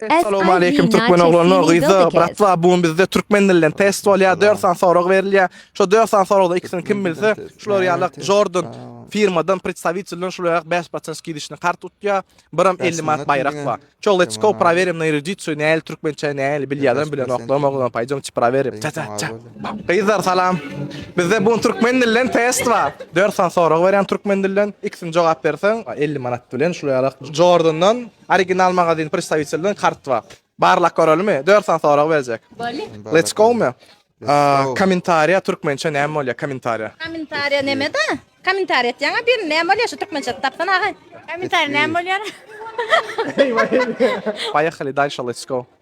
Essalowmaleýkim türkmen oglany gyza bratwa bu gün bizde türkmen dilden test bolýa dört sany sorag berilýä şo dört sany soragdan ikisini kim bilse şular ýalak jordan firmadan predstawitilden şular ýalak bäş proçent skidişni kart utýa biram elli manat baýrak bar ço let's go prowerem na erudiciýu näli türkmençe näli bilýädem bilenoklarym oglan paýjam çi prowerem ça ça ça gyzlar salam bizde bu gün türkmen dilden test bar dört sany sorag berýän türkmen dilden ikisini jogap berseň elli manat bilen şular ýalak jordandan Original magazin predstawitelden kart bar. Barlak görelimi? Dört sany sorag berjek. Bolly. Let's go my? Aa, Kommentariýa türkmençe näme bolýar? Kommentariýa. Kommentariýa neme-da? Kommentariýa etýäňä bir näme bolýar şu türkmençe tapsan aga? Kommentariýa näme bolýar? Poýehali dalşa let's go.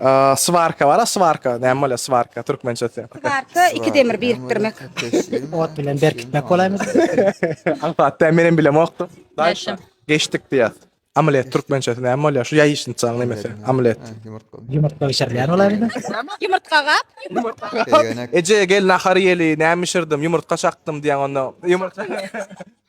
Aa, Svarka bar, svarka. Näme bolýar svarka türkmençesi? Barka iki demir birikdirmek. Ot bilen berkitmek bolaýmy? Aňsat da menem bilemokdy. Daşa. Geçdik diýýär. Amlet türkmençesi näme bolýar? Şu ýaýyşynçaň nemesi. Amlet. Ýumurtga bişirilýän bolaýmy? Ýumurtga gap. Eje gel nahar ýeli, näme bişirdim? Ýumurtga çakdym diýen onda. Ýumurtga.